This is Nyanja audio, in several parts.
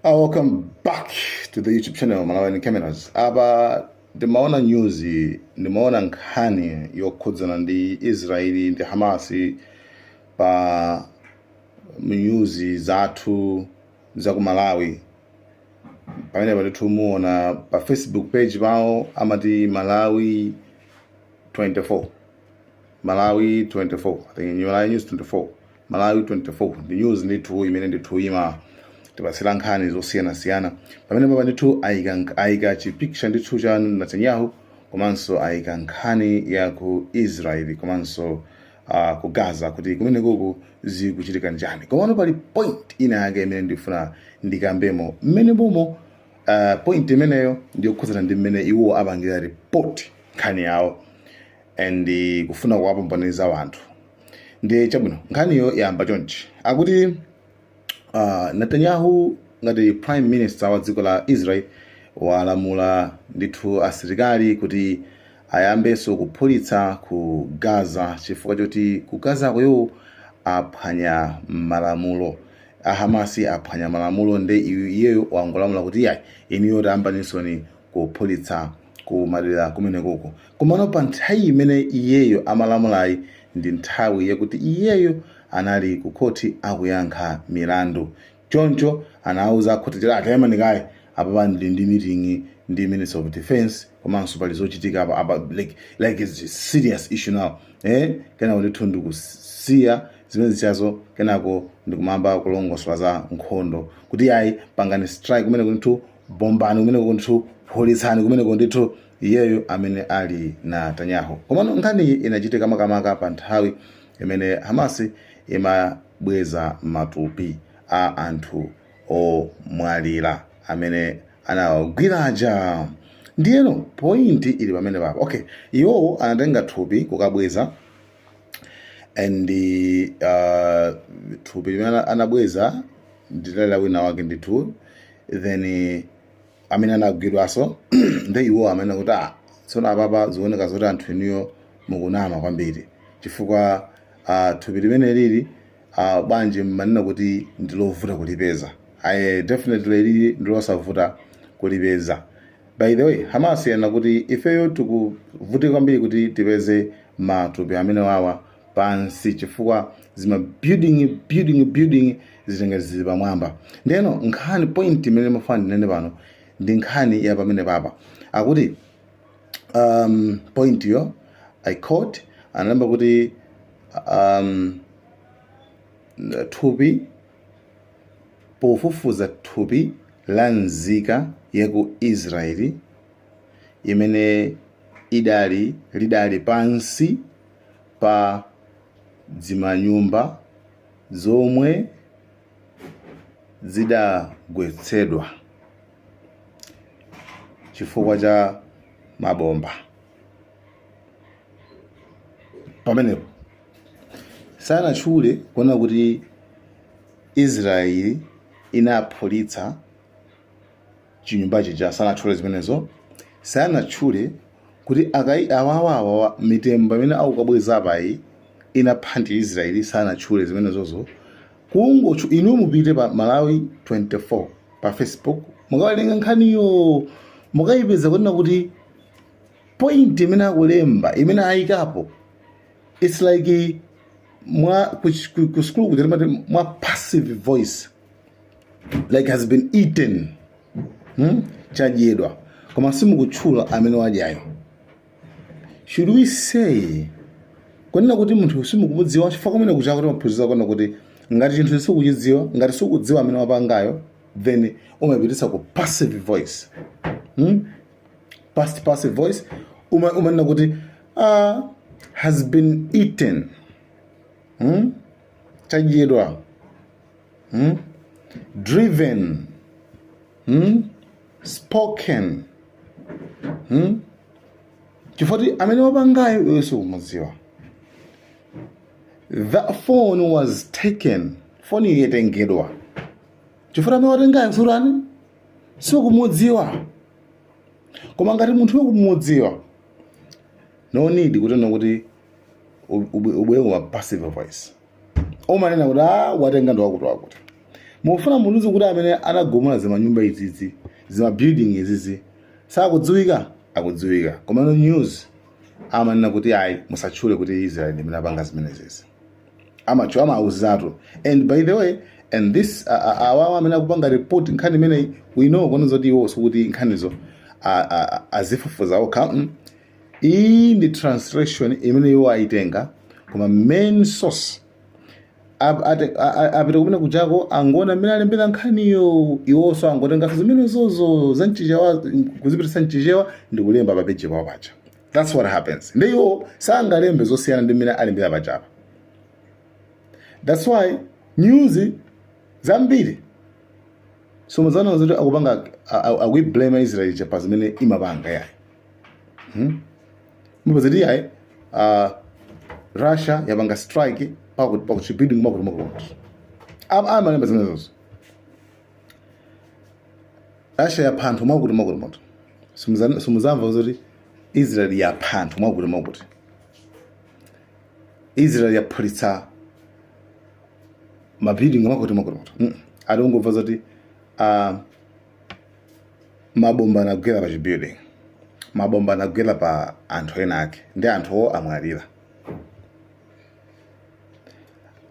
Ah, welcome back to the YouTube channel Malawian Cameras. Apa ndimaona news, ndimaona nkhani yokhudzana ndi Israeli ndi Hamasi pa news zathu za ku Malawi. Pamenepa ndithu muona pa Facebook page pawo amati Malawi 24. Malawi 24. I think Malawi News 24. Malawi 24 ndi news ndithu imene ndithu imatipatsira nkhani zosiyanasiyana pamene papa ndithu ayika nk- ayika chipicture ndithu cha Netanyahu komanso ayika nkhani ya ku Israel komanso uh, ku Gaza kuti kumenekuku zikuchitika njani komano pali point ina yake imene ndifuna ndikambemo mmenemomo uh, point imeneyo ndiyokhudzana ndi mmene iwo apangira report nkhani yawo and eh, kufuna kuwapambaniza wanthu ndi chabwino nkhaniyo yayamba chonchi akuti uh, netanyahu ngati prime minister wa dziko la israel walamula ndithu asilikali kuti ayambenso kuphulitsa ku gaza chifukwa choti ku gaza ko iwowo aphwanya malamulo ahamasi aphwanya malamulo nde iyeyo wangolamula kuti iyayi inuyo tayambansoni kuphulitsa ku madera kumenekuko komano pa nthawi imene iyeyo amalamulayi ndi nthawi yakuti iyeyo anali ku khoti akuyankha milandu choncho anauza akhoti kuti ah taimani kaye apapa ndili ndi meeting ndi minister of defense komanso pali zochitika apa apa like, like it's a serious issue now eh? kenako ndithu ndikusiya zimenezizo kenako ndikumayamba kulongosola za nkhondo kuti yayi pangani strike kumeneku ndithu bombani kumeneku ndithu phulitsani kumeneku ndithu iyeyo amene ali Netanyahu komano nkhaniyi inachitika makamaka pa nthawi imene hamasi imabweza matupi a anthu omwalira amene anawagwira aja ndiyeno pointi ili pamene papa okay iwowo anatenga thupi kukabweza and uh, thupi limene ana- anabweza linali la wina wake ndithu then eh, amene anagwidwaso nde iwo amanena kuti ah tsono apapa zioneka zoti anthu inuyo mukunama kwambiri chifukwa ah, thupi limeneli ili ah, bwanji mmanena kuti ndilovuta kulipeza aye definitely ilili ndilosavuta kulipeza By the way, Hamasi yanena kuti ifeyo tikuvutika kwambiri kuti tipeze matupi amene wawa pansi chifukwa zima building building building zitenge zili pamwamba. Ndeno nkhani point imene ndimafuna ndinene pano ndi nkhani ya pamene papa akuti um, point yo I quote analemba kuti um, thupi pofufuza thupi la nzika ya ku Israyeli imene idali lidali pansi pa dzimanyumba zomwe zidagwetsedwa chifukwa cha mabomba. pamenepo sanatchule kunena kuti israeli inaphulitsa chinyumba chija sanatchule zimenezo sanatchule kuti akai awawawawa mitembo imene akukabweza apayi inapha ndi israeli sanatchule zimenezozo kungoti inu mupite pa malawi 24 pa facebook mukawerenge nkhaniyo mukayipeza kunena kuti point imene akulemba imene ayikapo it's like mwa ku ch- ku- ku school kuja timati mwa passive voice like has been eaten hmm? chadyedwa koma simukutchula amene wadyayo should we say kunena kuti munthu sukumudziwa chifukwa kumene kujaku timaphunzitsa kunena kuti ngati chinthu sukuchidziwa ngati sukudziwa amene wapangayo then umapititsa ku passive voice hmm? past passive voice uma umanena kuti ah, has been eaten hmm? chadyedwa hmm? driven hmm? spoken hmm? chifukwa kuti amene wapangayo iwe sukumudziwa that phone was taken foni yatengedwa chifukwa amene watengayo surani sukumudziwa koma ngati munthu ukumudziwa no need kunena kuti ub- ub- ubwere kuma passive voice umanena kuti a watenga ndi wakuti wakuti mufuna mundiuze kuti amene anagumula zimanyumba izizi zimabuilding izizi sakudziwika akudziwika komano news amanena kuti ayi musatchule kuti israel ndi imene apanga zimenezezi ama amauzatu and by the way and this a- a- awawa amene akupanga report nkhani imeneyi we know kunena zoti iwo sikuti nkhanizo a- a- a- azifufuza okha mm. iyi ndi translation imene iwo ayitenga koma main source ap- ate- a- a- apita kumene kujako angona mmene alembera nkhaniyo iwonso angotengaso zimenezozo za mchichewa kuzipitisa mchichewa ndi kulemba papeji pawo paja that's what happens ndi iwo sangalembe zosiyana ndi mmene alembera pachapa that's why news zambiri sumuzamva zoti akupanga akuiblame israel pa zimene imapanga yayi hmm? mumvazoti yayi uh, russia yapanga strike pakuti pakuti chibuilding chakuti chakuti amalemba zimenezozo Russia yapha anthu mwakuti mwakuti mwakuti. Simuza- Simuzamva zoti Israel yapha anthu mwakuti mwakuti. Israel yaphulitsa mabuilding mwakuti mwakuti mwakuti. Mm. Mungomva zoti ah, mabomba anagwera pa chibuilding. Mabomba anagwera pa anthu ena ake ndi anthuwo amwalira.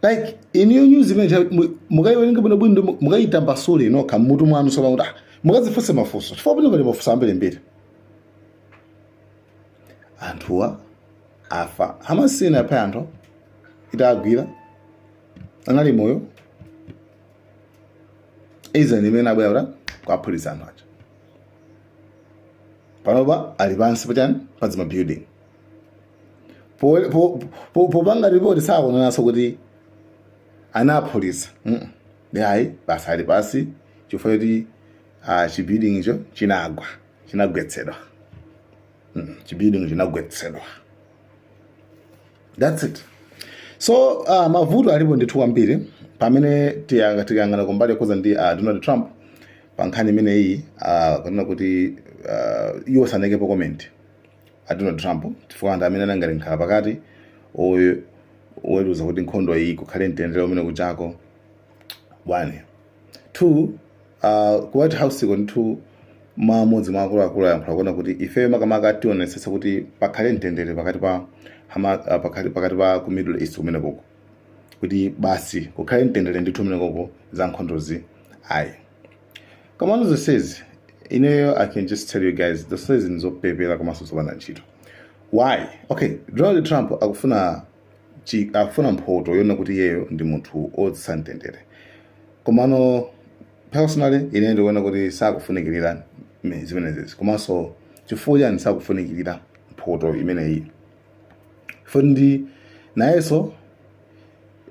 like inuyo news imene mukayiwerenga bwino bwino mu- mukayitambasule nokha mmutu mwanu sopano kuti ah, mukazifunse mafunso chifukwa pano pali mafunso ambirimbiri anthuwa afa Hamas sinaphe anthu itagwira anali moyo Israel ndi imene yabwera kuti kuwaphulitsa anthu aja panopa ali pansi pachani padzima building Po- po- po- popanga ripoti sakunenanso kuti anawaphulitsa Mm. ndani ayi basi ali pansi chifukwa choti ah, chibuilding icho chinagwa chinagwetsedwa Mm, chibuilding chinagwetsedwa that's it so uh, mavuto alipo ndithu kwambiri pamene tiya- tikayang'ana kumbali yokhudza ndi uh, donald trump pa nkhani imeneyi uh, kunena kuti uh, iwo sanaikepo comment a Donald Trump chifukwa anthu amene anali ngati mkhala pakati oy- oweruza kuti nkhondoyi kukhale mtendere kumene kujako one two uh, ku white house ko ndithu mmodzi mwa akuluakulu ayankhula kunena kuti ifeyo makamaka tionetsetsa kuti pakhale mtendere pakati pa hama, uh, pakati, pakati pa ku middle east kumene koko kuti basi kukhale mtendere ndithu kumene koko za nkhondozi ayi komano zonsezi ineyo i can just tell you guys zonsezi ndizopepera komanso zopanda ntchito why okay donald trump akufuna chi, akufuna mphoto yonena kuti iyeyo ndi munthu odzetsa mtendere komano personally ine ndikuona kuti sakufunikirira me- zimenezezi komanso chifukwa chani sakufunikirira mphoto imeneyi because nayenso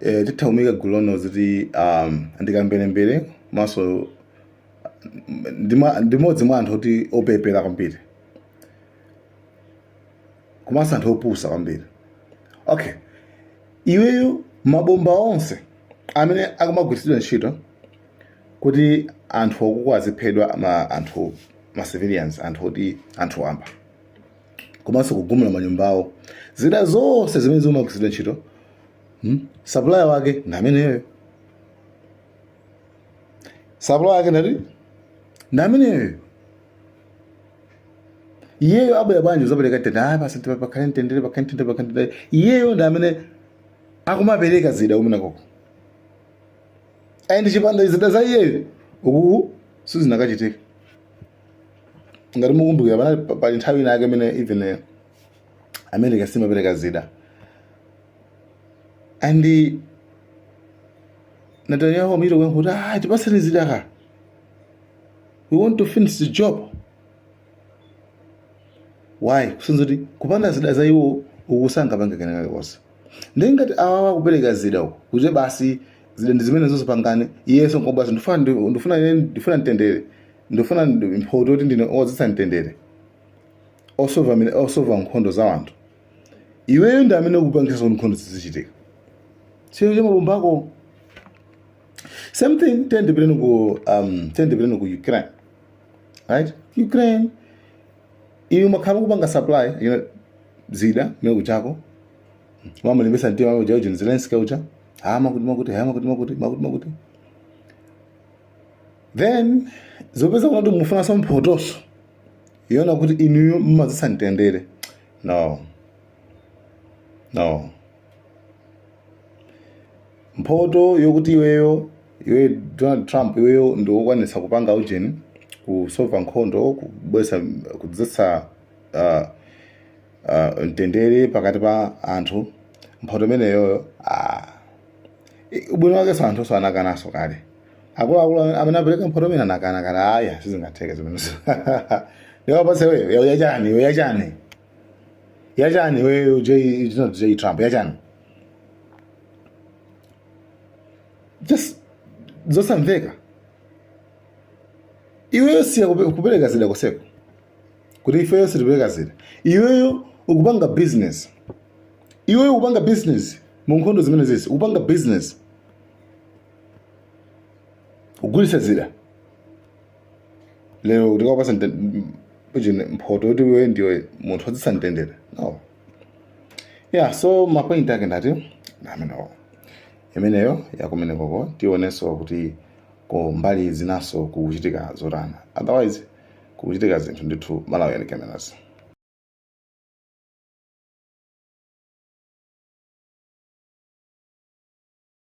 e, titha kumuika gulu lonena zoti um, ndikamberembere komanso ndima- ndimodzi mwa anthu oti opepera kwambiri komanso anthu opusa kwambiri okay iweyo mabomba onse amene akumagwiritsidwa ntchito kuti anthu okuko aziphedwa ma anthu ma civilians anthu oti anthu wamba komanso kugumula manyumba awo zida zonse zimene zimagwiritsidwa ntchito hmm? supplier wake ndi ameneyo supplier wake ndati ndi ameneyo iyeyo abwera bwanji kuzapereka mtendere ayi basi pakhale mtendere pakhale mtendere pakhale mtendere iyeyo ndi amene akumapereka zida kumenekoko and chipanda kukhala zida za iyeyo ukuku sizinakachitika ngati mukumbukira panali pa- pali nthawi ina yake imene even eh, america simapereka zida and eh, netanyahu amachita kuyankha kuti ah tipatseni zida ka we want to finish the job why kusonyeza kuti kupanda zida za iwo uku sangapange kena kalikonse ndi ngati awawa kupereka zida uku kuti basi zida ndi zimenezo zomapangana iyenso nkumati ndifuna ndifuna ndifuna mtendere ndifuna ndi- mphoto yoti ndine odzetsa mtendere osova amene- osova nkhondo za anthu iweyo ndi amene ukupangisa kuti nkhondo zizichitika chero cha mabomba ako same thing tandipitireni ku um, tandipitireni ku ukraine right ukraine iwe umakhala kupanga supply you know, zida kumene kuja ukumamulimbisa mtima uja uja zelensky uja ha makuti makuti ha makuti makuti makuti makuti then zopezeka kuti mufunanso mphotonso yoona kuti inuyo mumadzetsa mtendere no no mphoto yokuti iweyo iwe donald trump iweyo ndi wokwanitsa kupanga ujeni kusova nkhondo kubwesa kudzetsa uh, uh, mtendere pakati pa anthu mphoto imeneyoyo ah. I- ubwino wakenso anthu so anakanaso kale akuluakulu amene apereka mphoto imene anakana kuti aya sizingatheke zimenezo tikupatse iweyo yawo yachani iwe yachani yachani iweyo j it's not j trump yachani just zosamveka iweyo siya kupe- kupereka zida konseko kuti ifeyo sitipereka zida iweyo ukupanga business iweyo ukupanga business mu nkhondo zimenezizi ukupanga business kugulitsa zida lero tikupatse pachine mphoto yoti iwe ndiwe munthu odzetsa mtendere no yeah so mapoint ake ndati amenewo imeneyo yakumenekoko tionenso kuti ku mbali zinanso kukuchitika zotani otherwise kukuchitika zinthu ndithu malo osiyanasiyana